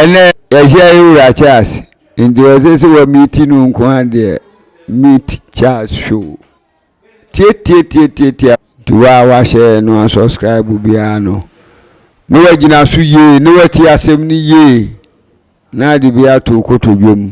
Ɛnɛ yɛahyia yɛ wura Charles nti ɔsɛ sɛ wɔ meeti no nko ara deɛ meet Charles show tietietietietia nti wo a wahyɛ no asubscribe biara no na wagyina so yie na wati asɛm no yie na ade bi ato kotodwe mu.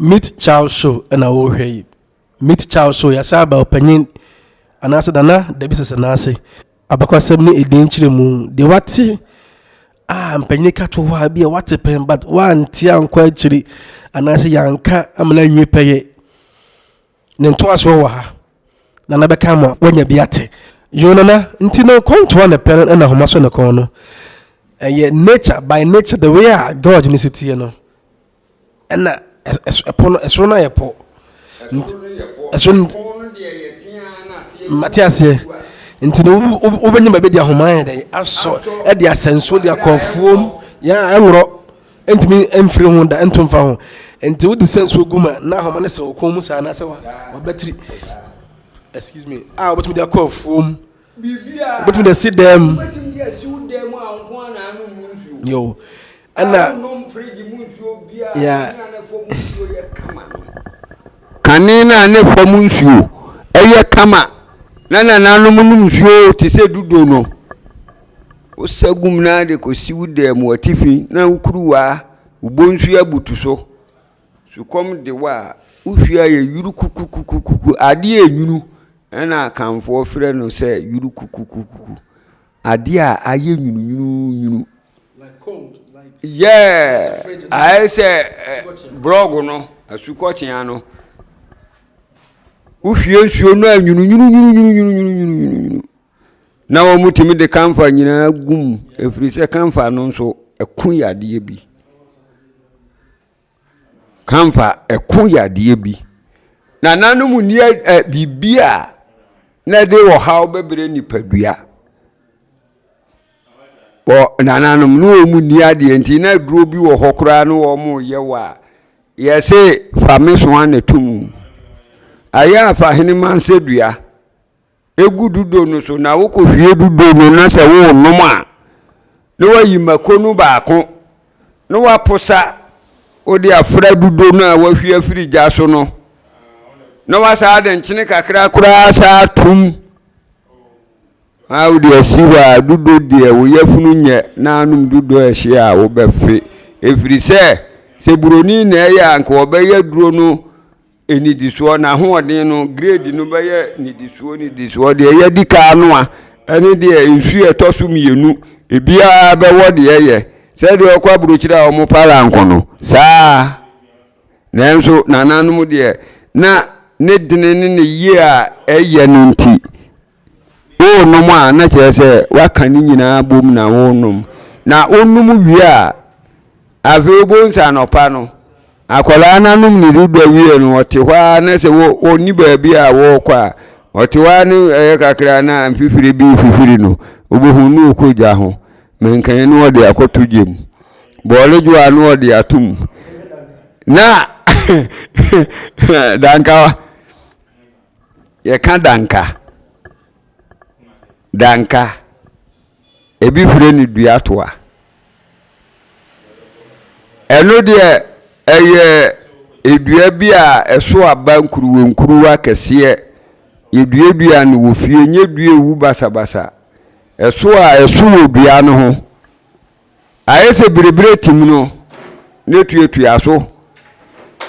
meet child show na wohwɛ yi meet child show yɛasɛ aba ɔpanyin anaasɛ dana dabi sɛsɛ n'ase abakwasɛm ne ɛdin kyerɛ mu deɛ wate a mpanyin ka to hɔ a bi a wate pɛn but woante ankɔ akyiri anaasɛ yɛanka amena nwie pɛyɛ Ne ntoasoɔ wɔ ha na na bɛka ama wanya bi ate yoo nana nti no kɔntoa ne pɛ no ɛna homa so ne kɔn no ɛyɛ nature by nature the way a god ne si tie no ɛna ɛpo no ɛsoro no ayɛ pɔ ɛsoro mate aseɛ nti no wobɛnya baabi de ahoma yɛ dɛ asɔ ɛde asɛnso de akɔfuom yɛ ɛnworɔ Ɛntumi mfiri ho da, ɛnto mfa ho. Nti wode sɛ nsuo gu mu a, na ahoma no sɛ wɔ kɔn mu saa anaasɛ wabatiri. Excuse me. A ah, wobɛtumi de akɔ afuom. Wobɛtumi de asi dan mu. Yo. Ɛna. Yeah. Kane no a ne fam nsuo ɛyɛ kama na nananom nom nsuo te sɛ dudo no. Wosagum no ara de kosi wo dan mu atifi na wo kuruwa, wo bonsu abutu so. Sukɔm de wo a, wo hwi ayɛ yurukukukukuku. Adeɛ a enwunu na Akanfoɔ frɛ no sɛ yurukukukukuku. Adeɛ a ayɛ nwununwununwunu. Like cold, like yeah, ayɛ sɛ brɔg no, asukɔkyea no. Wohwie nsuo no a nwununwununwununwununwununwunu. na wɔtumi de kamfa nyinaa gu mu ɛfiri sɛ kamfa no nso ɛko yɛ adeɛ bi kamfa ɛko yɛ adeɛ bi na nanom nni biribi a na ɛde ɔhaw bɛbrɛ nipadua wɔ nananom ne wɔn nni adeɛ nti na aduro bi wɔ hɔ koraa ne wɔn yɛ wɔ a yɛse fa me so ana to mu ayɛ afa hene mansɛ dua egu dudo no so na wokɔhwie dudo no na sɛ worenom a na wayi mako no baako na waposa wode afra dudo no a wahwie afiri gya so no na wasaa de nkyene kakra koraa saa tum a wode asi hɔ a dudo deɛ wo yafunu nyɛ na anom dudo a ɛhye a wobɛfe ɛfiri sɛ sɛ buroni na ɛyɛ a nka ɔbɛyɛ duro no Nnidisoɔ, n'ahoɔden no, grade no bɛyɛ nnidisoɔ nnidisoɔ, deɛ yɛadi ka ano a, ɛne deɛ nsuo a ɛtɔ so mmienu, ebiara bɛwɔ deɛ ɛyɛ. Sɛdeɛ ɔkɔ aburokyire a wɔn para nko no, saa ara. Nanso nananom deɛ, na ne dene ne ne yie a ɛyɛ no nti, Worenom a, na kyerɛ sɛ woaka ne nyinaa bom na worenom. Na wonom wie a, afei wobɛhu sɛ anɔpa no, akwadaa no anom ne dodoɔ wie no, ɔte hɔ ara na sɛ ɔnni baabi a wɔrekɔ a, ɔte hɔ ara ne ɛyɛ kakra na mfifiri bi fifiri no, wobɛhu ne ɔkɔ gya ho. Menkae ne ɔde akɔto gya mu. Bɔɔle dwo a ne ɔde ato mu. Na dankawa. yɛka danka danka ebi firi ne dua toa ɛno deɛ ɛyɛ edua bi a ɛso aba nkuruwa nkuruwa kɛseɛ yɛduadua no wɔ fie nyɛ dua ewu basabasa ɛso a ɛso wɔ dua no ho. Ayɛ sɛ birebire tim no ne tuatua so,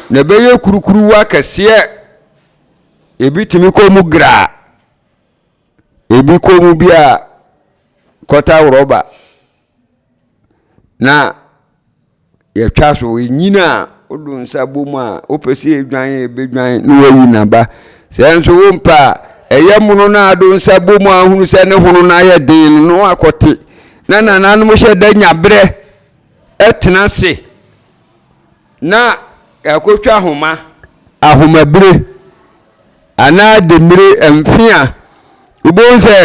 na ɛbɛyɛ kurukuruwa kɛseɛ. Ebi tumi kɔ mu graa, ebi kɔ mu bi a kɔta rɔba. Na yɛtwa so, ɛnyini a wodo nsa bɔ mu a wopɛ sɛ ɛdwan a ɛbɛdwan na wayi n'aba sɛ nso wompɛ a ɛyɛ mono no a do nsa bɔ mu a hunu sɛ ne hono no ayɛ den no na wakɔte na nananom hyɛ da nya berɛ ɛtena se na akɔtwa ahoma ahomabire anaa demire mfe a wobɛhu sɛ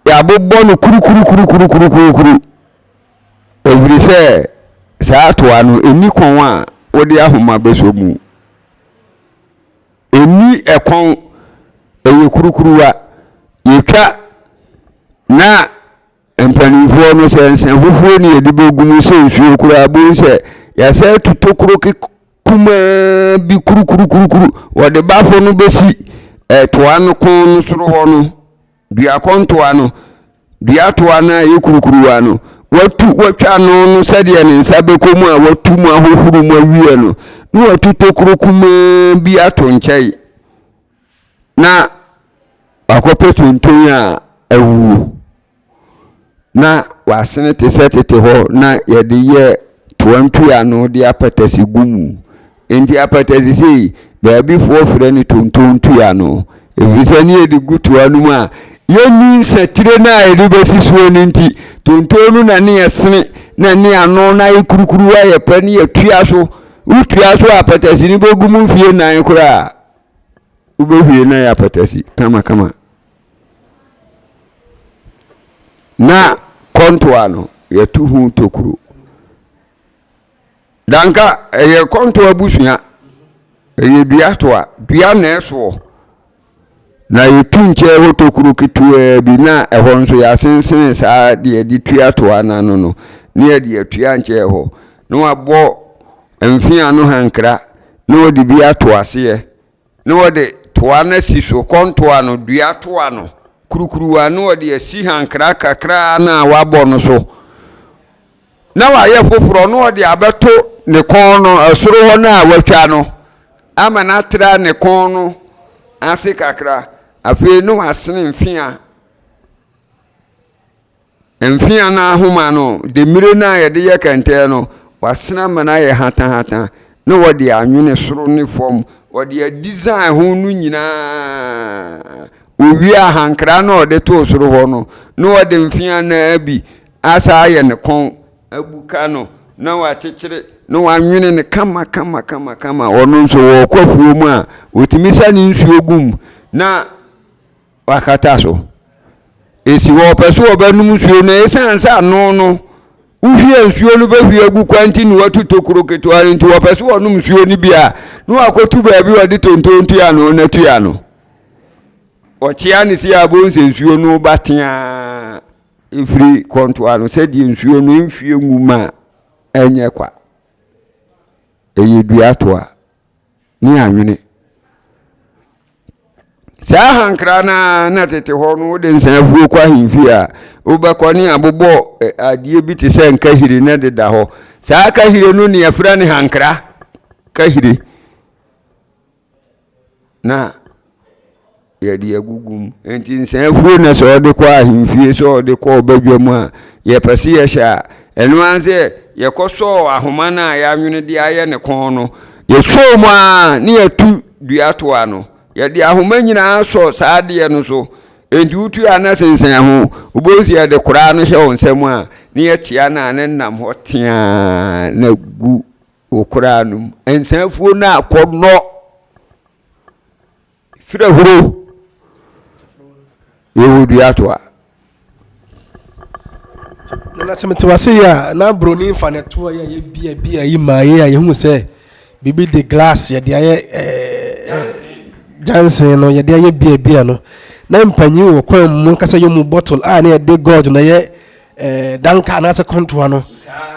yɛabobɔ no kurukurukurukurukurukuru Ɛfiri sɛ saa toa no, ɛnni kɔn a wode ahoma bɛsɔ mu. Ɛnni ɛkɔn, ɛyɛ kurukuruwa. Yɛtwa na mpanimfoɔ no sɛ nsɛmfofoɔ ne yɛde bɛgu mu sɛ nsuo koraa bohu sɛ yɛasɛ atu tokuro kumaa bi kurukurukurukuru wɔde bafo no bɛsi toa no kɔn no soro hɔ no. duakɔntoa no, duatoa no a ɛyɛ kurukuruwa no, watu watwa ano no sɛdeɛ ne nsa bɛkɔ mu a watu mu ahohoro mu awie no na watu tokuro kumaa bi ato nkyɛn na wakɔpɛ tonton a awuo na wɔasene te sɛ tete hɔ na yɛde yɛ toa ntua ano de apatase gu mu. Enti apatase sei, baabi foɔ frɛ no tonton ntua no, ɛfiri sɛ ne yɛde gu toa no mu a, yɛnni nsatire no a yɛde bɛsi soɔ no nti, tonton no na ne yɛsene na ne ano no ayɛ kurukuru ayɛ pɛ ne yɛtua so. Wotua so a apatase no bɛgu mu mfeɛ nan koraa a, wobɛhwie no ayɛ apatase kamakama. Na kɔntoa no, yɛto ho tokuro. Danka ɛyɛ kɔntoa abusua. Ɛyɛ dua toa. Dua na ɛsoɔ. Na yɛtu nkyɛn hɔ tokuro ketewaa bi na ɛhɔ nso yɛasensene saa deɛ yɛde tua toa no ano no ne yɛde atua nkyɛn hɔ na wabɔ mfea no hankra na wɔde bi ato aseɛ Ne wɔde toa no asi so, kɔntoa no, dua toa no, kurukuruwa, ne wɔde asi hankra kakraa no a wɔabɔ no so, na wɔayɛ foforɔ, na wɔde abɛto ne kɔn no, ɛsoro hɔ no a wɔatwa no, ama no atra ne kɔn no ase kakra, afei ne wɔasene mfea. Mfe anan ahoma no, demmire no a wɔde yɛ kɛntɛn no, wɔasen ama no ayɛ hatahata, na wɔde anwene soro ne fam, wɔde adisan ho no nyinaa. Wowie a, ahankra no a wɔde too soro hɔ no, na wɔde mfe anan bi asan ayɛ ne kɔn, abuka no, na wɔakyekyere, na wɔanwene no kamakamakamakama. Ɔno nso, wɔkɔ afuom a, wɔtumi sa ne nsuo gu mu, na. wakata so. Esi hɔ, ɔpɛ sɛ ɔbɛnom nsuo no, ɛsiane sɛ ano no, wohwie nsuo no bɛhwie agu kwa nti na watu tokuro ketewa no nti, ɔpɛ sɛ ɔnom nsuo no bi a, na wakɔtu baabi a ɔde tonton tua no na tua no. Ɔkyea no si a, bohu sɛ nsuo no ba teaa ɛfiri kɔntoa no sɛdeɛ nsuo no nhwie ngu ma ɛnyɛ kwa. Ɛyɛ dua toa. ne anwene saa ahankra no ara na tete hɔ no wode nsɛafuo kɔ ahemfie a wobɛkɔ ne abobɔ adeɛ bi te sɛ nkahire na de da hɔ saa kahire no ne afira ne hankra kahire na Yɛde agugu mu. Enti nsã afuo na sɛ ɔde kɔ ahemfie, sɛ ɔde kɔ ɔbadwa mu a, yɛpɛ sɛ yɛhyɛ a, ɛno ara ne sɛ yɛkɔsɔɔ ahoma no a yɛanwene de ayɛ ne kɔn no, yɛsɔɔ mu ara na yɛatu dua to ano. Yɛde ahoma nyinaa sɔ saa adeɛ no so. Enti wotu a na sensɛn ho. Wobɛhu sɛ yɛde koraa no hyɛ wo nsa mu a, na yɛkyea no a na ɛnam hɔ teaa na gu wo koraa no mu. Nsã afuo no akɔnnɔ. Fire huro yɛwɔ dua to a. na sɛ mete wase yɛ a na buroni nfa ne to a yɛ bia bia yi maa yɛ a yɛhu sɛ biribi de glass yɛde ayɛ jansen no yɛde ayɛ bia bia no na mpanyin wɔ kwan mu ankasa yɛ mu bottle a na yɛde gold na yɛ danka anaasɛ kɔntoa no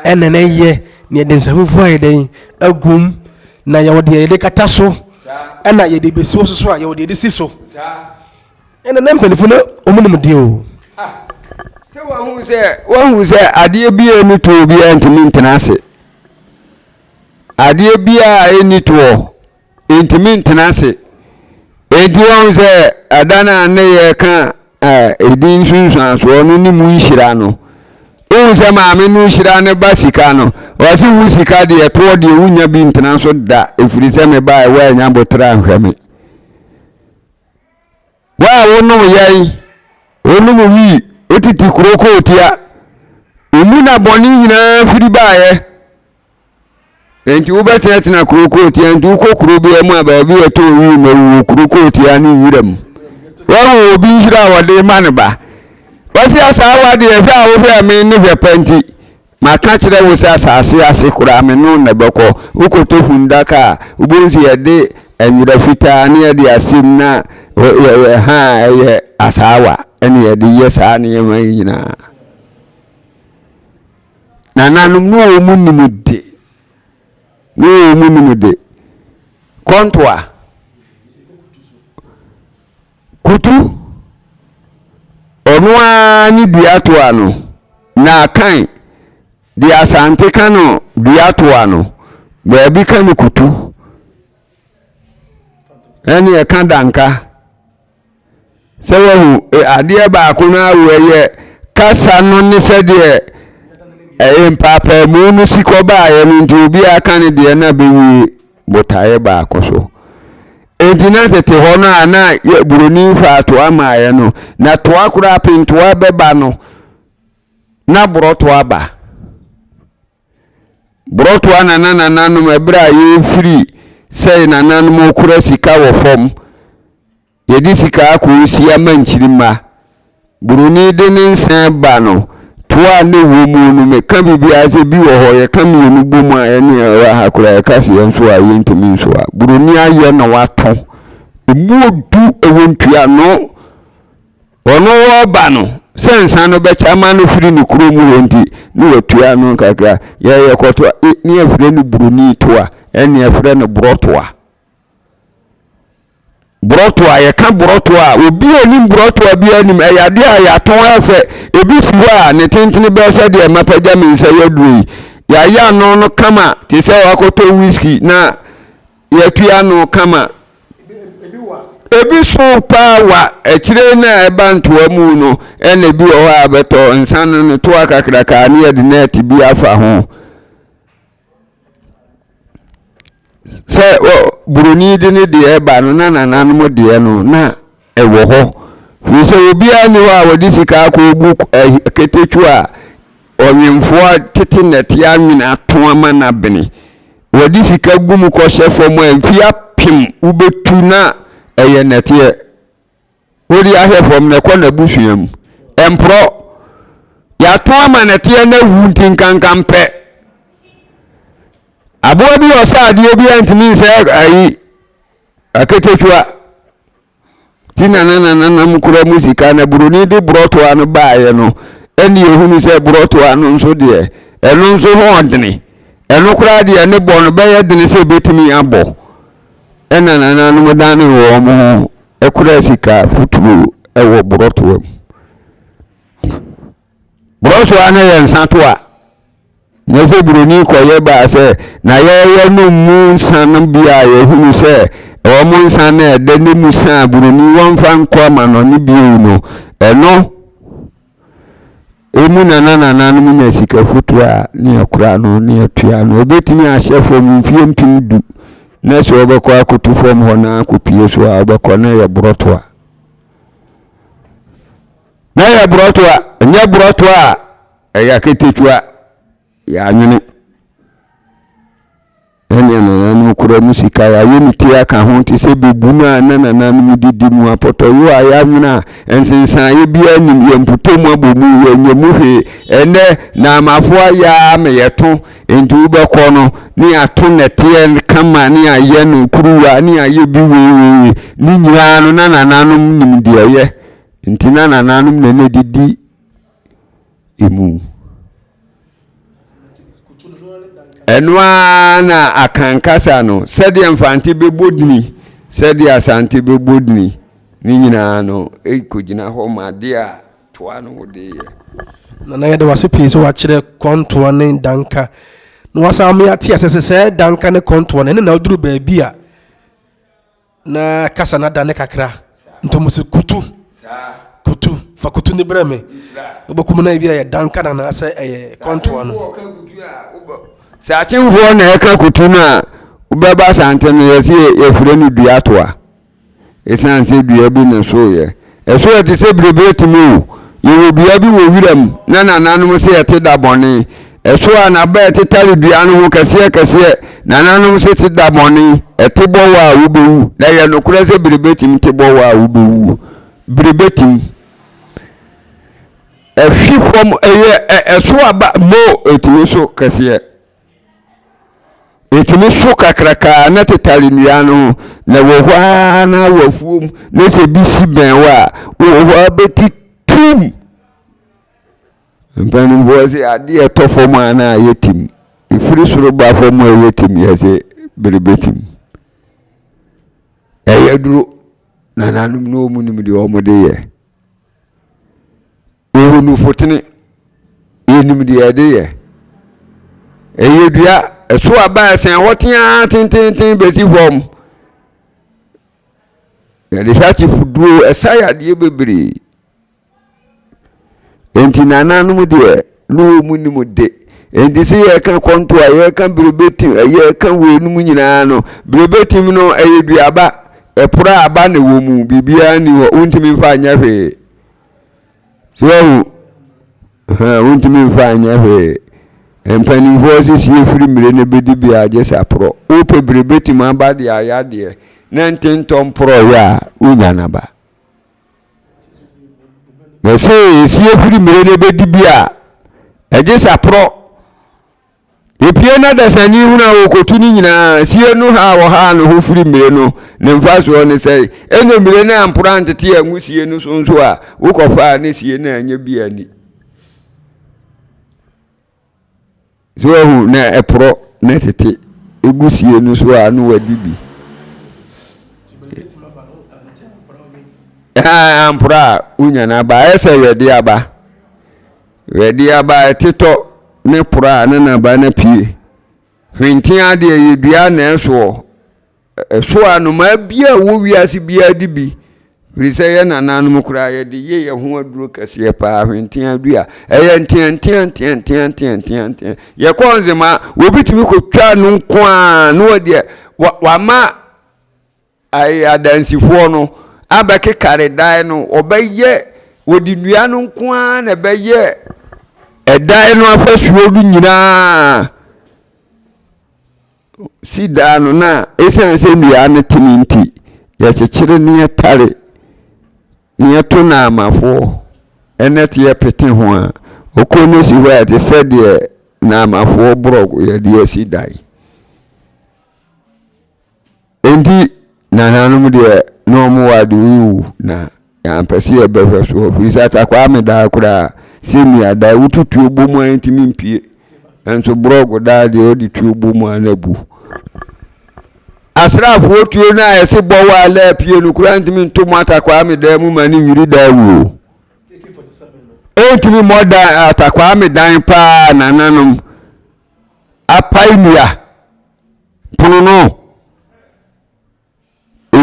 ɛna na yɛ na yɛde nsafufuo ayɛ dɛn agum Na yɛwɔ deɛ yɛde kata so ɛna yɛde bɛsi wɔ so so a yɛwɔ deɛ yɛde si so ɛna na mpanimfoɔ no wɔn nim deɛ o. Ah, sɛ wahu sɛ wahu sɛ adeɛ bi a ɛni toɔ biara ntumi ntena ase adeɛ bi a ɛni toɔ ntumi ntena ase enti wahu sɛ ada no a ne yɛ ka a ɛdi nsunsuansoɔ no ne mu nhyira no. Wohu sɛ maame no hyira ne ba sika no, ɔse wo sika deɛ toɔ deɛ wonya bi ntena so da ɛfiri sɛ me ba ɛwɔ anya botra nhwɛ me. Wo a wonom yɛn, wonom wii, wotete kuro kootia, wo mu na bɔne nyinaa firi baeɛ. Enti wobɛtenatena kuro kootia, nti wokɔ kuro bia mu a baabi yɛ tɔɔ yie ma wu wɔ kuro kootia ne nwura mu. Wahu obi nhyira a wɔde ma ne ba. Wɔsi asaawa deɛ hwɛ a wohwɛ me ne hwɛ pɛ nti, maka kyerɛ wo sɛ asase ase koraa me no na bɛkɔ. Wokɔtɔ fundaka a, wobɛhu sɛ yɛde nwera fitaa ne yɛde asem na yɛyɛ ha a ɛyɛ asaawa ɛne yɛde yɛ saa nneɛma yi nyinaa. Nananom ne wɔn nim de, ne wɔn nim de. Kɔntoa. Kutu. Ɔno ara ne dua toa no. Na akan. De asante ka no dua toa no. Baabi ka no kutu. Ɛne ɛka danka. sɛ wahu e, adeɛ baako no ara wɔ yɛ kasa no ne sɛdeɛ ɛyɛ mpaapaamu no si kɔbaeɛ no nti obiara ka ne deɛ na bɛwie botaeɛ baako so nti na tete hɔ no a na buroni faa toa maaeɛ no na toa koraa pentoa bɛba no na borɔtoa ba Brɔtoa na na nananom ɛberɛ a yɛrefiri sɛ nananom kura sika wɔ fam yɛde sika akɔsi ama nkyirima buroni de ne nsa ba no toa a na ɛwɔ mu no meka biribiara sɛ bi wɔ hɔ yɛka mmienu bɔ mu a ɛne ɛwɔ ha koraa yɛka sɛ yɛn so a yɛntumi nso a buroni ayɛ na watɔ ɛmu odu ɛwɔ ntuano Ɔno wɔba no sɛ nsa no bɛkyɛ ama no firi ne kuro mu hɔ nti ne watua ano kakra. Yɛ yɛkɔto a e, ne yɛfrɛ no buroni to a ɛne yɛfrɛ no borɔto a. Borɔto a yɛka borɔto a obi a nim borɔto a biara nim ɛyɛ adeɛ a yɛatɔn afɛ ebi si hɔ a ne tentene bɛyɛ sɛ deɛ mapagya me nsa yɛ aduro yi yɛayɛ ano no kama te sɛ wakɔtɔ whisky na yɛtua no ka ma. Ebi so paa wa, akyire no a ɛba ntoa mu no, ɛna ebi wɔ hɔ a bɛtɔ nsa no no toa kakraka ne yɛde nɛɛte bi afa ho. Sɛ buroni de ne deɛ ba no na nananom deɛ no na wɔ hɔ, firi sɛ obiara nni hɔ a ɔde sika akɔgu ketekwo a ɔnwemfoɔ a tete nnɛteɛ anwene ato ama no abene. Wɔde sika gu mu kɔhyɛ fam a mfeɛ apem wobɛtu na ɛyɛ nnɛteɛ. Wode ahwɛ fam na ɛkɔ n'abusua mu. Ɛmporɔ. Yɛato ama nnɛteɛ na awu nti nkankan pɛ. Aboa bi ɔsɛ adeɛ bi a ntumi nsɛ ayi Aketekyua ti na na nananom kura mu sika na buroni de borɔtoa no baeɛ no, ɛnna yɛhunu sɛ borɔtoa no nso deɛ, ɛno nso ho ɔdene. Ɛno koraa deɛ ne bɔ no bɛyɛ dene sɛ ɛbɛtumi abɔ. Ɛnna nananom dane wɔn ho kura sika futuro wɔ borɔtoa mu. Brɔsoa no yɛ nsa to a, na sɛ buroni kɔyɛ ba a sɛ na yɛyɛ no mu nsa no bi a yɛhunu sɛ ɛwɔ mo nsa no a ɛdɛ ne mu sa a buroni wɔmfa nkɔ amanɔne bio no, ɛno emu na na nananom nya sika foto a ne yɛkora no ne yɛtua no. Ɛbɛtumi ahyɛ fam mfeɛ mpem du na sɛ wɔbɛkɔ akoto fam hɔ na akɔpie so a wɔbɛkɔ na ɛyɛ borɔtoa. Na yɛ borɔto a, nyɛ borɔto a ɛyɛ aketekyua, yɛanwene. Ɛne nananom kura mu sika yɛayɛ ne ti aka ho te sɛ bɛbu no a na nananom didi mu apɔtɔyo a yɛanwene a nsensaeɛ biara nim yɛn mpotɔ mu abɔ mu yɛnyɛ mu hwee ɛnɛ na amafoɔ ayɛ a ma yɛto nti wobɛkɔ no ne yɛato nɛteɛ kama ne yɛayɛ no kuruwa ne yɛayɛ bi weiweiwe ne nyinaa no na nananom nim deɛ ɛyɛ Nti na nananom na na didi emu. Ɛno ara na Akan kasa no, sɛdeɛ Mfante bɛbɔ dini, sɛdeɛ Asante bɛbɔ dini, ne nyinaa no ɛkɔgyina hɔ ma adeɛ a toa no ho de yɛ. Nana yɛde wase pii sɛ wakyerɛ kɔntoa ne danka na wasan ama yɛate asɛ sɛ sɛ danka ne kɔntoa no ɛne na aduru baabi a Na kasa no adane kakra nti ɔmo sɛ kutu kutu fa kutu ne brɛ me wobɛkum no ebi a yɛ dan kana anaasɛ ɛyɛ kɔntoa no sɛ akyemfoɔ na ɛka kutu no a wobɛba asante no yɛsɛ yɛfrɛ no duatoa ɛsiane sɛ dua bi na soyɛ Ɛso ɛte sɛ biribi atumi o. Yɛwɔ dua bi wɔ wiram na nananom se ɛte da bɔne. Ɛso a n'aba ɛtetare dua no ho kɛseɛ kɛseɛ. Nananom se te da bɔne, ɛte bɔwɔ a wobɛwu. Na ɛyɛ nokorɛ sɛ biribi atumi te bɔwɔ a wobɛwuo. Biribi atumi. Ɛhwe fam, ɛyɛ ɛso aba, mo, ɛtumi so kɛseɛ. Ɛtumi so kakraka na tetare nnua no ho na ɛwɔ hɔ ara na wɔ afuom na sɛ bi si bɛn hɔ a wowɔ hɔ ara bɛti tum mpanimfoɔ sɛ adeɛ ɛtɔ fam a na ayɛ tim ɛfiri soro ba fam a ɛyɛ tim yɛ sɛ bere bɛtim ɛyɛ duro nananom no ɔmu nim deɛ ɔmode yɛ Wohu nufotene, yɛnim deɛ yɛde yɛ. Ɛyɛ dua, ɛso aba ɛsɛn hɔ teaa tententen bɛsi fam. Yɛde hyakye fuduro, ɛsa yadeɛ bebree. Enti nananom deɛ ne wɔn nim de. Enti sɛ yɛka kɔnto a yɛka berebetim, yɛka weinom nyinaa no, berebetim no ɛyɛ duaba, ɛpora aba na ɛwɔ mu, biribiara ni hɔ, wontumi mfa nyɛ hwee. sɛ ɔhu wontumi mfa anyɛ hwee mpanimfoɔ sɛ sie firi mmire no bɛdi bi agye sa porɔ wopɛ bire bɛtumi aba deɛ ayadeɛ na nte ntɔ mporɔ yɛ a wonya no aba na sɛ sie firi mmire no bɛdi bi a agye sa porɔ Yepue na dasani hunu a wɔkɔtu no nyinaa sie no ha a wɔhaa no ho firi mmire no ne mfasoɔ no sɛn? Ɛnna mmire no amporo antete angu sie no so nso a wokɔfaa ne sie no anyɛ bi anni. So wahu na ɛporɔ na ɛtete egu sie no so a na wadi bi. Amporo a wonya no aba ɛsɛ yɛde aba. Wɛde aba a ɛtetɔ ne pora a ne nnabaa no apue. Hwenteaa deɛ, ɛyɛ dua na ɛsoɔ. Ɛso a, nnomaa biara a ɛwɔ wiase biara di bi. Ɛfiri sɛ, yɛn nananom koraa, yɛde yɛ yɛn ho aduro kɛseɛ paa, hwenteaa dua. Ɛyɛ nteaanteaanteaanteaanteaanteaa. Yɛkɔ Nzema a, obi tumi kɔtwa no nko ara na ɔdeɛ, wama. Ayɛ adansifoɔ no abɛkekare dan no, wɔbɛyɛ, wɔde nnua no nko ara na ɛbɛyɛ ɛdan no afasuo no nyinaa. Si dan no na ɛsiane sɛ nnua no tene nti, yɛkyekyere ne yɛtare ne yɛto naamafoɔ ɛnɛ te yɛpete ho a, ɔkuro no si hɔ a ɛte sɛ deɛ naamafoɔ borɔg yɛde asi dan. Enti nananom deɛ na wɔn wɔ ade wowu na yɛampɛ sɛ yɛbɛhwɛ so hɔ firi sɛ atakwaa me daa koraa sɛ mia daa wotu tuo bɔ mu a ɛntumi mpie nanso borɔg daa deɛ ɔde tuo bɔ mu a na bu asraafoɔ tuo no a yɛse bɔ wɔ a na apue no koraa ntumi nto mu atakwaa me daa mu ma ne nwiri daa wuo ɛntumi mmɔ dan atakwaa me dan paa nananom apae nua Pono no,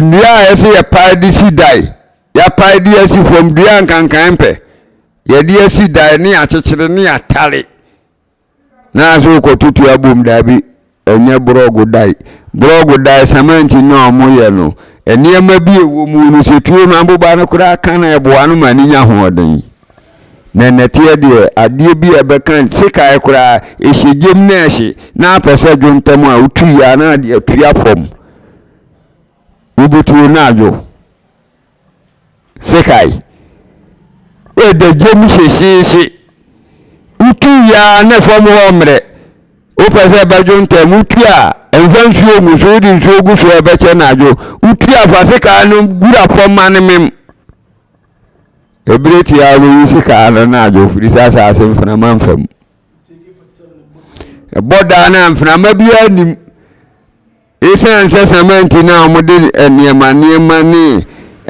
nnua a ɛsɛ yɛpae de si dan, yɛapae de asi fam, dua nkankan mpɛ, yɛde asi dan ne akyekyere ne atare. Na sɛ wokɔtoto abom daabi, ɛnyɛ borɔgo dan. Borɔgo dan, samanti na wɔyɛ no. Nneɛma bi a ɛwɔ mu no, sɛ tuo no aboba no koraa ka na ɛboa no ma ne nya ahoɔden. Na nnɛteɛ deɛ adeɛ bi a ɛbɛka sekan koraa ɛhyɛ gyem na ɛhye na apɛ sɛ dwo ntɛm a wotwi yɛ a na adeɛ atua fam wobɛtuo na adwo sekan ɛda gyem hyehyeehye wotwi yɛ a na fam hɔ mmerɛ wopɛ sɛ ɛbɛdwo ntɛm wotwi a ɛmfa nsuo ngu so wode nsuo gu so a ɛbɛkyɛ na adwo wotwi afa sekan no gura fam ma no mem Ebire tiaa bi wusi kaa no na adwo firi sɛ asase mfenama mfa mu. Ɛbɔ daa no a mfenama biara nim. Esiane sɛ sɛmɛnti no a wɔde nneɛma nneɛma ne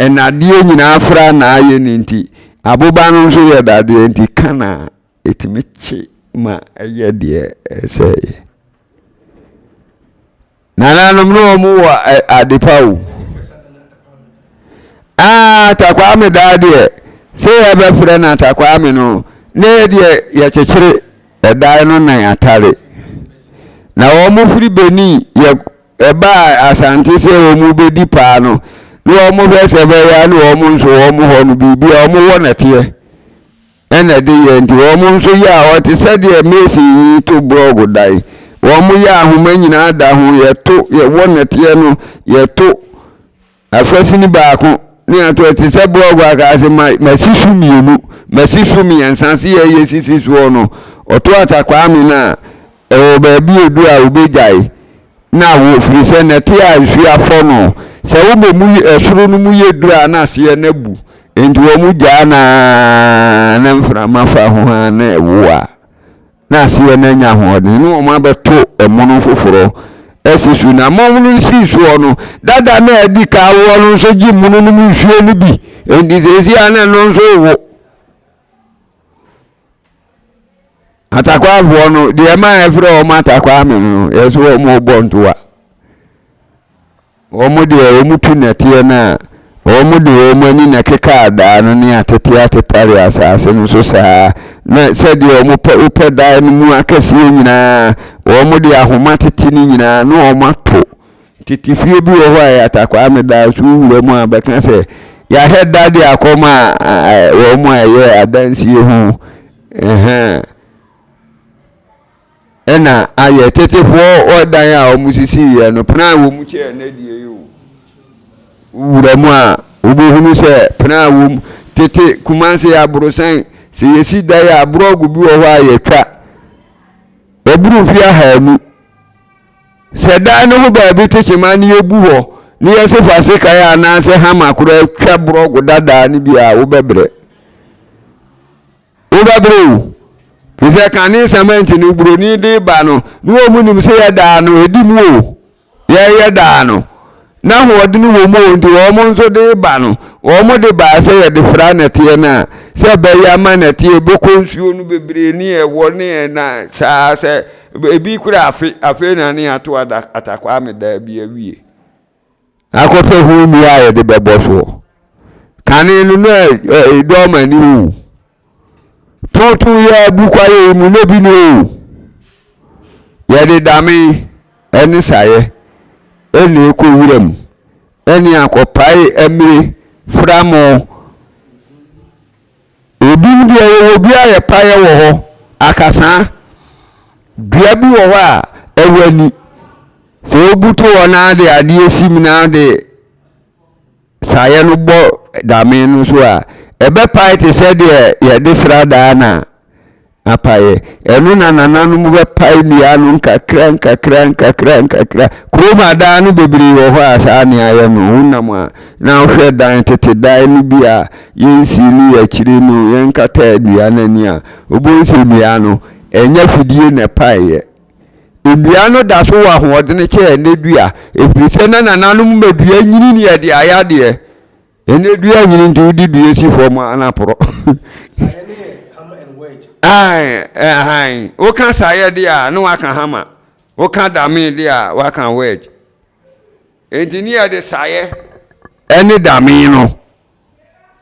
nnadeɛ nyinaa fra na ayɛ no nti, aboba no nso yɛ dadeɛ nti ka na ɛtumi kye ma ɛyɛ deɛ ɛsɛ yɛ. Nananom ne wɔn wɔ adepa o. Ah, Takwame daa deɛ, sɛ yɛbɛfrɛ na Takwame no, na yɛ deɛ yɛkyekyere ɛdae no nan atare. Na wɔn firi Benin yɛ ɛbaa Asante sɛ wɔn bɛdi paa no, na wɔn hwɛ sɛ bɛyɛ a na wɔn nso wɔn hɔ no biribi a wɔn wɔ nɛteɛ. Ɛna ɛde yɛɛ nti wɔn nso yɛɛ a ɔte sɛdeɛ Mason yi to blog da yi. Wɔn yɛ ahoma nyinaa da ho, yɛto, yɛwɔ nɛteɛ no, yɛto afasini baako ne yɛato ɛte sɛ blog akaa se ma masi so mmienu, masi so mmiɛnsa se yɛyɛ sisi soɔ no, ɔto Atta Kwame no a Wɔ baabi a edu a wobegyae na awo, ɛfiri sɛ nnɛte a nsuo afɔ no, sɛ wobɔ mu soro no mu yɛ duru a na aseɛ no abu. Enti wɔgyaa no ara na mframa fa ho ara na ɛwo a, na aseɛ no anya ahoɔden na wɔabɛto mono foforɔ asi so. Na mono no sii soɔ no, dada no a adi kan awoɔ no nso gye mono no mu nsuo no bi, enti seesei a na ɛno nso rewo. atakwafoɔ no deɛ ma ɛfrɛ wɔn atakwaa me no ɛsɛ wɔn bɔ ntoa wɔn deɛ wɔn tu nɛteɛ no a wɔn de wɔn ani na ɛkeka adaa no ne atete atetare asase no so saa na sɛdeɛ wɔn pɛ wopɛ dan no mu akɛseɛ nyinaa wɔn de ahoma tete no nyinaa na wɔn ato Tete fie bi wɔ hɔ a Yatta Kwame daa so wura mu a bɛka sɛ yɛahyɛ da de akɔma wɔn a ɛyɛ adansie ho na ayɛ tetefoɔ wɔ dan a wɔn sisi yɛ no pena a wɔn kyɛ na die yi o wura mu a wobɛhunu sɛ pena a wɔm tete kumase aborosan sɛ yɛsi dan a borɔgo bi wɔ hɔ a yɛtwa ɛburu fie ahaanu Sɛ dan no ho baabi te kyema na yegu hɔ na yɛse fa sekan anaasɛ hama koraa twa borɔgo dadaa no bi a, wobɛbrɛ. Wobɛbrɛ o. Firi sɛ kane cement no buroni de ba no, na wɔn nim sɛ yɛdaa no, ɛdi mu o. Yɛyɛ daa no. N'ahoɔdene wɔ mu o nti wɔn nso de ba no, wɔn de baa sɛ yɛde fra nnɛteɛ no a, sɛ ɛbɛyɛ ama nnɛteɛ ɛbɛkɔ nsuo no bebree ne ɛwɔ ne ɛna saa sɛ ɛbi kura afe, afei na ne ato atakwame daa bi awie. Akɔpɛ ho nnua a yɛde bɛbɔ soɔ. Kane no na ɛdɔɔma ni o. Tonton yɛ agu kwaeɛ yi mu na bi no o. Yɛde dame ne saeɛ na ɛkɔ wura mu ne akɔpae amire framo. Ebinom deɛ yɛwɔ bi a yɛpaeɛ wɔ hɔ akasaa. Dua bi wɔ hɔ a ɛwɔ ani. Sɛ wobutu hɔ na de adeɛ si mu na de saeɛ no bɔ dame no so a, ɛbɛpae te sɛ deɛ yɛde sradaa na apaeɛ. Ɛno na nananom bɛpae nnua no nkakra nkakra nkakra nkakra. Kurom adan no bebree wɔ hɔ a saa nea ayɛ no. Wonam a na wohwɛ dan tete dan no bi a yɛnsiili akyire no, yɛnkataa nnua no ani a, wobɛhu sɛ nnua no, ɛnyɛ afidie na ɛpaeɛ. Nnua no da so wɔ ahoɔdene kyɛɛ ɛnɛ dua, ɛfiri sɛ na nananom ma dua nyini ne ɛde ayɛ adeɛ. Ɛnɛ dua nyini nti wode dua si fam a na porɔ. Woka saeɛ deɛ a na waka hama, woka dame deɛ a waka wedge. Ɛnti ne yɛde saeɛ ɛne dame no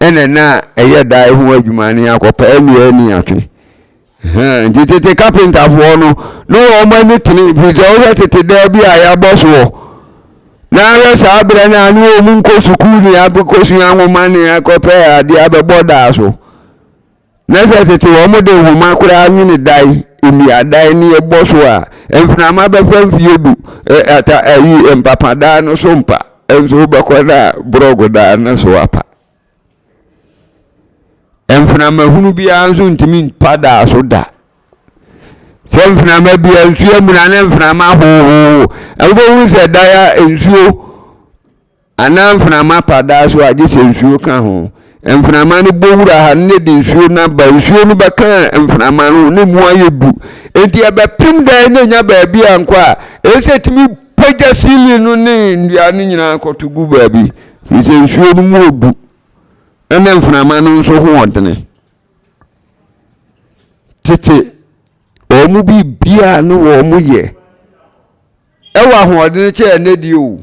ɛna na ɛyɛ dan ho adwuma ne akɔpa nnua ani atwe nti tete kapentafoɔ no ne wɔn ani tene firi sɛ wohwɛ tete dan bi a yɛabɔ soɔ na ahwɛ saa berɛ no a ne wɔn nkɔ sukuu ne akɔsua nwoma ne akɔpɛ adeɛ abɛbɔ daa so Na sɛ tete wɔde nhoma koraa nwene dan, nnuadan ne ɛbɔ so a, mframa bɛfa mfeɛ du ata ayi mpapadan no so mpa nso wobɛkɔ no a borɔgodan no so apa. Mframa hunu biara nso ntumi mpa daa so da. Sɛ mframa bia nsuo amuna ne mframa hohoho, wobɛhu sɛ dan a nsuo Anaa mframa pa daa so a, gye sɛ nsuo ka ho. Mframa no bɔ wura ha no na ɛde nsuo no aba. Nsuo no bɛka mframa no ho na mu ayɛ du. Enti ɛbɛpem dan no na ɛnya baabi ankɔ a, ɛyɛ sɛ ɛtumi pagya ceiling no ne nnua no nyinaa kɔto gu baabi. Ɛfiri sɛ nsuo no mu ɔdu. Ɛna mframa no nso ho ɔdene. Tete wɔn biribiara no wɔn yɛ Ɛwɔ ahoɔdene kyɛ ɛnnɛ deɛ o.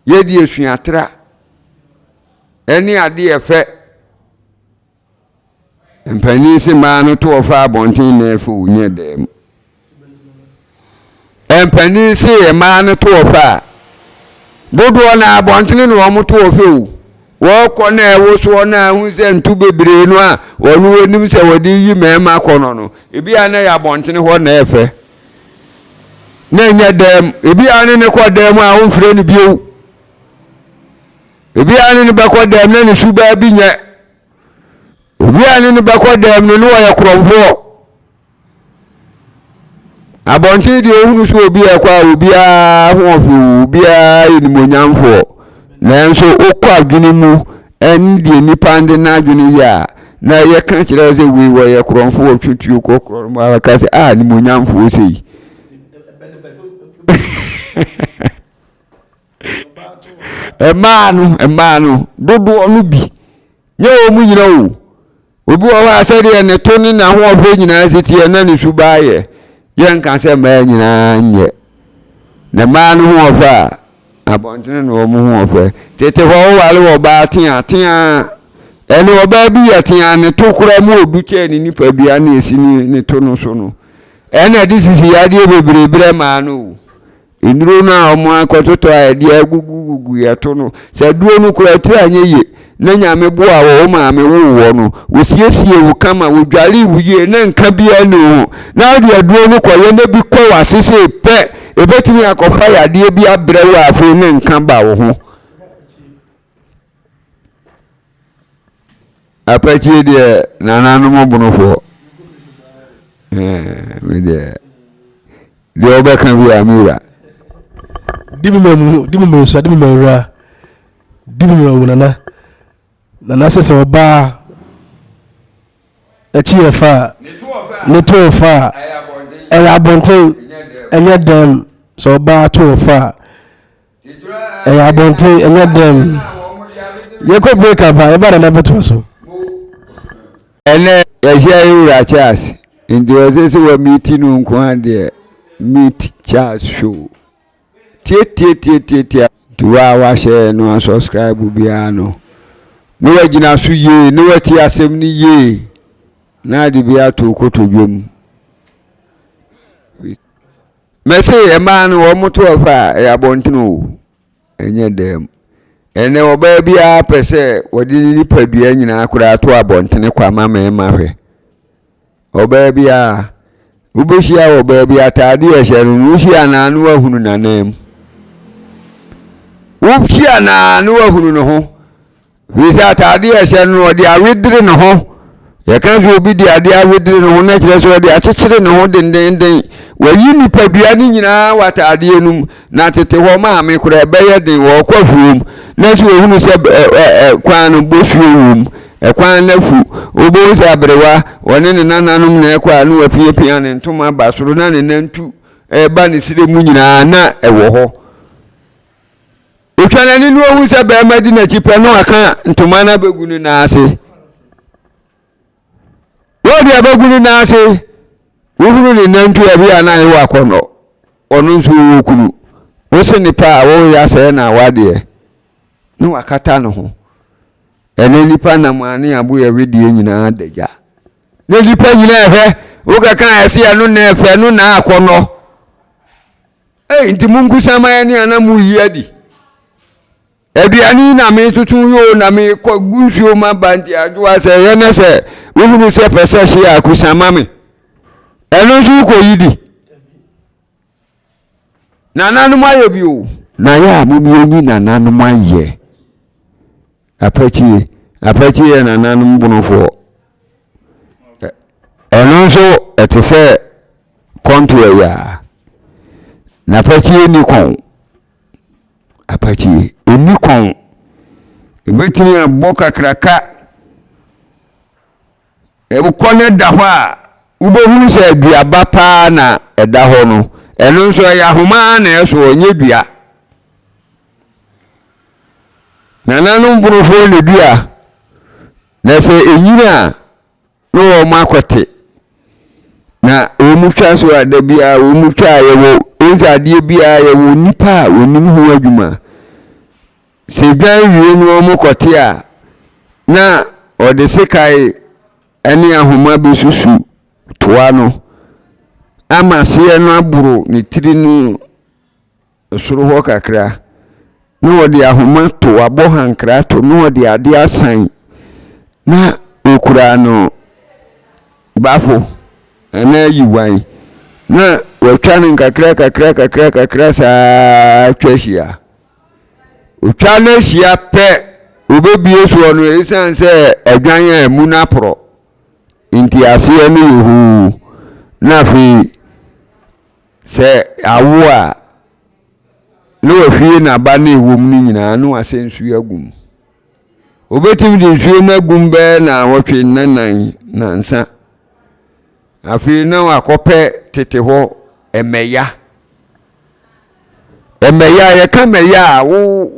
Yɛdi asuatra ɛne adeɛ ɛfɛ. Mpanin se maa no to ɔfa abɔnten na ɛfɛ o nyɛ dɛm. Mpanin se ɛmaa no to ɔfa a dodoɔ na abɔntene na wɔn to ɔfɛ o. Wɔkɔ na ɛwo soɔ na ahu sɛ nto bebree no a wɔn wɔnim sɛ wɔde yi mmarima kɔ no no. Ebi a na yɛ abɔntene hɔ na ɛfɛ. na ɛnyɛ dɛm ebi a ne ne kɔ dɛm a womfrɛ no bio ebi a ne ne bɛkɔ dɛm na ne su baa bi nyɛ obi a ne ne bɛkɔ dɛm no ne wɔyɛ korɔmfoɔ abɔnten deɛ ohunu so obi a ɛkɔ a obiara ho ɔfew obiara yɛ nimonyamfoɔ nanso wokɔ adwene mu Ɛno deɛ nipa de n'adwene yɛ a na yɛka kyerɛ wo sɛ wei wɔyɛ korɔmfo wɔtwe tuo kɔ korɔ no mu a ka sɛ a ah, nimonyamfoɔ sei mmaa no mmaa no dodoɔ no bi nyɛ wɔn mu nyina o Obi wɔ hɔ a sɛdeɛ ne to ne n'ahoɔfɛ nyinaa si teɛ na ne suban yɛ. Yɛnka sɛ mmaa nyinaa nyɛ. Na mmaa no hoɔfɛ a, abɔntene na wɔn hoɔfɛ. Tete hɔ woware ɔbaa tea tea ɛne ɔbaa bi yɛ tea ne to koraa mu ɔdu kyɛɛ ne nipadua ne ɛsi ne to no so no. Ɛna ɛde sisi yadeɛ bebree berɛ maa no o. Nnuro no a wɔakɔtotɔ a yɛde agugugugu yɛ to no, sɛ aduro no kura tiri a nyɛ yie, na Nyame boaa wɔ wo maame woo wɔ no, wɔ siesie wo kama, wɔ dwaree wo yie, na nka biara ni wo ho, na wo de aduro no kɔ yɛ na bi kɔ wɔ ase sei pɛ, ɛbɛtumi akɔ fa yadeɛ bi abrɛ wo a afei na nka ba wo ho. Apakyire deɛ nananom bonofoɔ me deɛ deɛ ɔbɛka bi a me wura dibi ma mu dibi ma nsa dibi ma wura dibi ma wo nana nana sɛ sɛ ɔbaa akyi yɛ fa a ne to ɔfa a ɛyɛ abɔnten ɛnyɛ dɛm sɛ ɔbaa to ɔfa a ɛyɛ abɔnten ɛnyɛ dɛm yɛkɔ break up a yɛba nana bɛtoa so ɛnɛ yɛhyɛ wura charles nti ɔsɛ sɛ wɔ meti no nko a deɛ met charles show tietietietietia nti wo a wahyɛ no a subscribe biara no ne wagyina so yie ne wati asɛm no yie na ade bi ato kotodwa mu Mɛse mmaa no wɔn to ɔfa a ɛyɛ abɔnten o ɛnyɛ dan mu ɛnɛ ɔbaa biara pɛ sɛ wɔde ne nipadua nyinaa koraa to abɔntene kwa ma mmarima hwɛ ɔbaa biara wobɛhyia wɔ ɔbaa bi ataade a ɛhyɛ no no wohyia anaa no wahunu n'anan mu wohyia anaa no wahunu ne ho Firi sɛ ataadeɛ a ɛhyɛ no no, ɔde awedere ne ho. Yɛka sɛ obi de adeɛ awedere ne ho na kyerɛ sɛ ɔde akyekyere ne ho dendenden. Wayi nipadua no nyinaa wɔ ataadeɛ no mu, na tete hɔ maame koraa ɛbɛyɛ den ɔrekɔ afuom na sɛ ɔhunu sɛ kwan no bosuo wom, kwan no afu, wobɛhu sɛ aberewa ɔne ne nananom na ɛkɔ a na wapiapia ne ntoma ba soro na ne nantu ɛreba ne srɛ mu nyinaa na ɛwɔ hɔ. Otwa n'ani na ohu sɛ barima di n'akyi pɛ na waka ntoma no abɛgu ne nan ase. Wɔde abɛgu ne nan ase, wohunu ne nantua bi a na ayɛ wɔ akɔnnɔ. Ɔno nso wɔ kunu. Wose ne pa a wɔreyɛ asɛe na awadeɛ. Na wakata ne ho. Ɛnɛ nipa nam a ne aboyɛ wedeɛ nyinaa da gya. Na nipa nyinaa ɛhwɛ. Wokɛka ɛse ɛno na ɛfɛ, ɛno na akɔnnɔ. Ei nti monkusa ma yɛne ana moyi adi aduane yi na metoto yoo na mekɔ gu nsuo ma ba nti adwoa sɛ ɛyɛ na sɛ wohunu sɛ pɛ sɛ hye a kusa ma me ɛno nso wokɔyi di nananom ayɛ bio na yɛ a momyɛnyi nananom ayɛ Apakyire, apakyire yɛ nananom bonofoɔ. Ɛno nso ɛte sɛ kɔntoa yi a. N'apakyire nni kɔn. Apakyire ɛnni kɔn. Ɛbɛtumi abɔ kakraka. Ɛkɔ no da hɔ a, wobɛhunu sɛ aduaba paa na ɛda hɔ no. Ɛno nso ɛyɛ ahoma na ɛsoɔ, ɛnyɛ dua. Nananom borofoɔ na dua, na sɛ ɛnyini a na wɔn akɔte. Na wɔn twa so a da biara wɔn twa a yɛwɔ wɔn sɛ adeɛ biara yɛwɔ nipa a wɔnim ho adwuma. Sɛ dwan wie no wɔn kɔte a na ɔde sekae ne ahoma bɛsusu toa no ama seɛ no aboro ne tiri no soro hɔ kakra, na ɔde ahoma to, wabɔ hankra to, na ɔde adeɛ asan, na ɔkura no bafo anaa yiwan, na watwa no nkakra kakra kakra kakra saa twa hyia. Ɔtwa no ahyia pɛ, ɔbɛbie soɔ no, ɛsiane sɛ adwan a ɛmu no aporɔ, nti aseɛ no yɛ hoo, na afei. Sɛ awo a, na wahwie n'aba ne ɛwɔ mu no nyinaa na wasɛ nsuo agu mu. Wobɛtumi de nsuo no agu mu bɛyɛ nnawɔtwe nnanan nnansa. Afei na wakɔpɛ tete hɔ mmɛya. Mmɛya a yɛka mmɛya a wo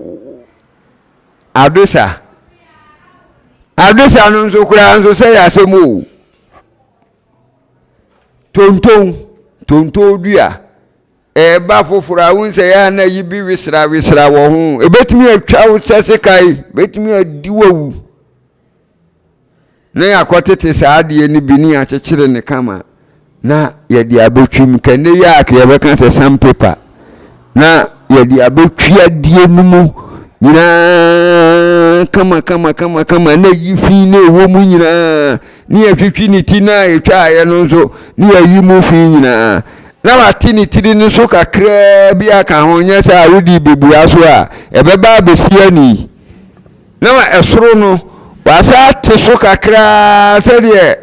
adosa. Adosa no nso koraa nso sɛ yɛ asɛm o. Tonton, tonton dua. Ɛba foforɔ a wohu sɛ yɛ a na ayi bi wesrawesra wɔ ho. Ɛbɛtumi atwa wo sɛ sekan, ɛbɛtumi adi wo awu. Na yɛakɔtete saa adeɛ no bi ne yɛakyekyere ne kama na yɛde abɛtwam. Kɛnɛ yi a yɛbɛka sɛ sandpaper. na yɛde abɛtwi adeɛ no mu nyinaa kama kama kama kama na yi fi na ɛwɔ mu nyinaa ne yɛtwitwi ne ti no a ɛtwaeɛ no nso ne yɛyi mu fi nyinaa na wate ne tiri no so kakraa bi aka ho nyɛ sɛ a wode bɛbua so a ɛbɛba abɛsi ani na ma ɛsoro no wasa ate so kakraa sɛdeɛ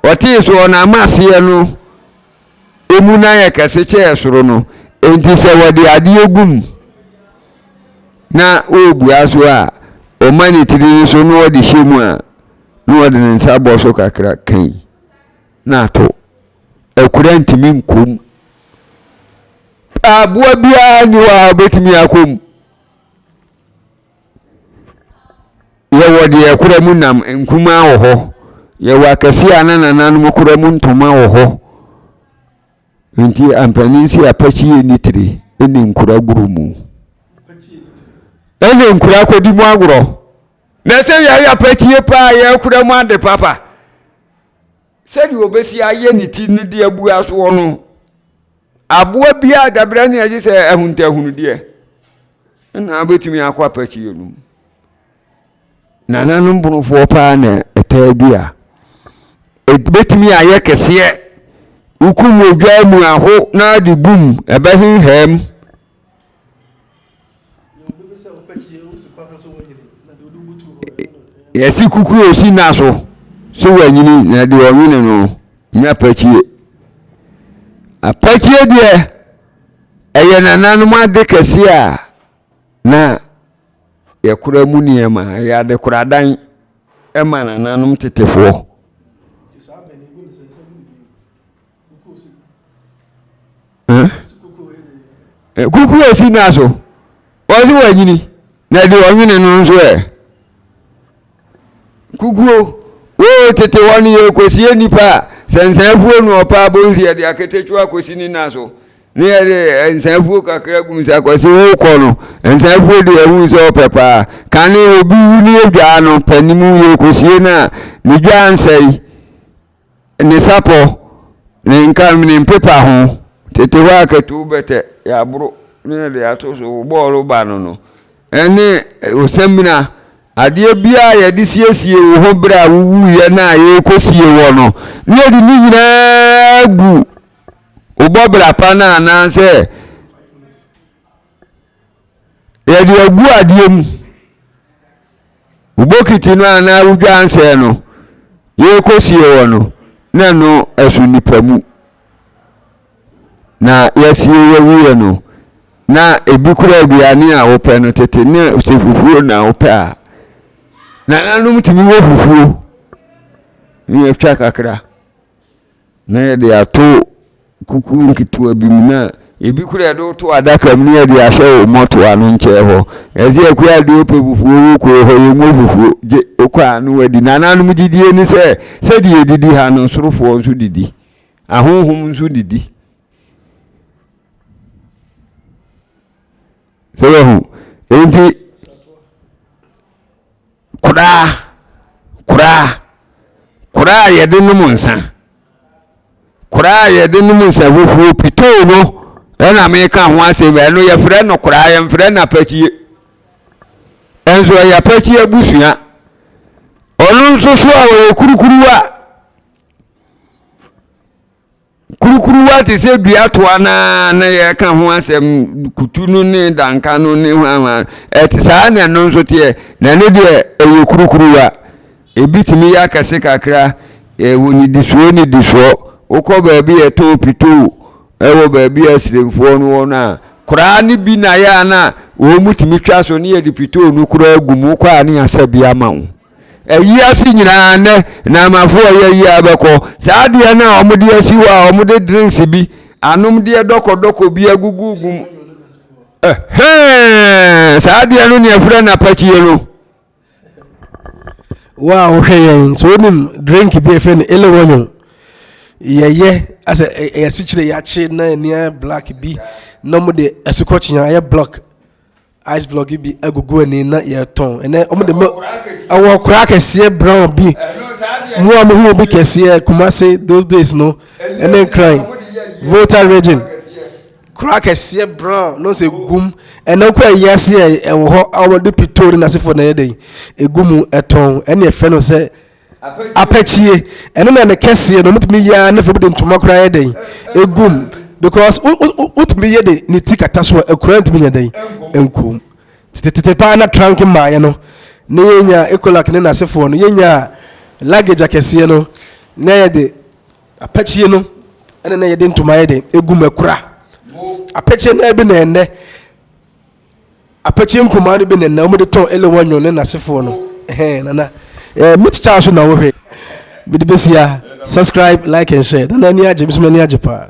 ɔtee so ɔna ama aseɛ no emu na ayɛ kɛse kyɛɛ soro no. Enti sɛ wɔde adeɛ gu mu na ɔrebua so a, ɔma ne tiri no so na ɔde hyɛ mu a, na ɔde ne nsa bɔ so kakra kai na ato. Akura ntumi nkɔ mu. Aboa biara nni hɔ a ɔbɛtumi akɔ mu. Yɛwɔ deɛ ɛkora mu nam, nkumaa wɔ hɔ. Yɛwɔ akɛseɛ a na nananom kora mu ntoma wɔ hɔ. Nti ampanin si apɛkyie ni tire ɛne nkura guro mu. Ɛne nkura kɔdi mu agorɔ. Na sɛ yɛayɛ apɛkyie paa yɛkora mu ade papa. Sɛdeɛ ɔbɛsi ayɛ ne ti no de abu asoɔ no aboa biara dabrɛ ne ɛgye sɛ ahuntahunudeɛ na wobɛtumi akɔ apɛkyeɛ no mu nananom bonofoɔ paa na ɛtaa bi a ɛbɛtumi ayɛ kɛseɛ wokum odwa mu aho na de gum ɛbɛhenhɛm Yɛsi kuku a osi na so sɛ wanyini na deɛ ɔnwene no nyɛ apɛkyie apɛkyie deɛ ɛyɛ nananom ade kɛseɛ a na yɛkora mu nneɛma ɛyɛ adekoradan ɛma nananom tetefoɔ. kukuo a ɛsi naa so ɔse wanyini na deɛ ɔnwene no nso ɛ kukuo woo tete hɔ no yɛkɔsie nnipa a sɛ nsaafuo no ɔpa abonsi yɛde aketekyua kɔsi ne na so ne yɛde nsaafuo kakra gum sɛ akɔsi wokɔ no nsaafuo deɛ ɛhu sɛ ɔpɛ paa kane obi wu ne yɛdwaa no panimu yɛkɔsie no a ne dwaa nsɛe Ne sapɔ, ne nkam, ne mpepa ho. Tete hɔ a katuo bɛtɛ, yɛaboro ne yɛde ato so wo bɔɔlo ba no no, ɛne osamina, adeɛ biara yɛde siesie wo ho berɛ a wowuiɛ no a yɛrekɔsie wɔ no, ne yɛde ne nyinaa gu wo bɔbra pa no anaasɛ Yɛde agu adeɛ mu. Wo bokiti no anaa wo dwansɛɛ no, yɛrekɔsie hɔ no, na ɛno ɛso nipa mu. Na yɛasie yɛwieɛ no, na ebi kura aduane a wopɛ no tete ne sɛ fufuo na wopɛ a. Nananom tumi wɔ fufuo ne yɛtwa kakra. Na yɛde ato kukuo nketewa bi mu na ebi kura yɛde woto adaka mu na yɛde ahyɛ wo mɔto ano nkyɛn hɔ. Ɛsɛ ɛkɔ a deɛ ɔpɛ fufuo wo kɔɔ hɔ yɛ nwo fufuo gye wokɔ a no wadi. Nananom gyidie ne sɛ sɛdeɛ yɛdidi ha no sorofoɔ nso didi. Ahonhom nso didi. Sɛ wahu. Enti koraa koraa koraa a yɛde nom nsa koraa a yɛde nom nsa fufuo pitoo no ɛna meka ho asɛm ɛno yɛfrɛ no koraa yɛmfrɛ no apatie ɛnso ɛyɛ apatie abusua ɔno nso so a ɔyɛ kurukuruwa Kurukuruwa te sɛ dua toa no ara na yɛka ho asɛm kutu no ne danka no ne hwanhwan ɛte saa na ɛno nso teɛ na ɛno deɛ ɛyɛ kurukuruwa ebi tumi yɛ akɛse kakra ɛwɔ ne disoɔ ne disoɔ wokɔ baabi yɛtɔn pitoo ɛwɔ baabi a asiremfoɔ no wɔ no a koraa ne bi na yɛ a na wɔn mu tumi twa so ne yɛde pitoo no koraa gu mu kɔ a ne yɛasɛ bi ama wo Ayi ase nyinaa nnɛ Naamafo a wɔyɛ yie ara bɛkɔ. Saa adeɛ no a wɔde asi hɔ a wɔde drinks bi, anomdeɛ dɔkɔdɔkɔ bi agugugu mu. Ɛhɛn! Saa adeɛ no na yɛfrɛ no apakyie no. Wo a wohwɛ yɛn sɛ wonim drink bi a yɛfrɛ no elewonyo. Yɛyɛ asɛ yɛasikyire yɛakye na nneɛma black bi na wɔde asukɔkyea ayɛ block ice block bi agugu ani na yɛtɔn ɛnɛ wɔn de mo ɛwɔ kura kɛseɛ brown bi mu a mo hu bi kɛseɛ kumase those days no ɛne nkran volta region kura kɛseɛ brown no sɛ gum ɛnɛ kɔ ɛyi ase ɛwɔ hɔ a wɔde pitoo ne n'asefoɔ na ɛyɛ dɛ egu mu ɛtɔn ɛne ɛfɛ no sɛ. apɛkyie ɛno na ne kɛseɛ no mutumi yɛ ara ne fam de ntoma koraa yɛ dɛn egum because wotumi yɛ de ne ti kata so a ekura ntumi yɛ dɛn nkum tete paa na trunk mmaeɛ no ne yɛnya ekolak ne n'asefoɔ no yɛnya luggage akɛseɛ no na yɛ de apɛkyie no ɛna na yɛ de ntoma yɛ de egum ekura apɛkyie no ɛbi na ɛnɛ Apɛkyɛ nkumaa no bi na na wɔde tɔn Elewa Nyon ne n'asefoɔ no. Ɛhɛn, Nana. Eh, me tikyaa so na wohwɛ. Mede bɛsi ha. Subscribe, like and share. Nana ani agye, me nso m'ani agye paa.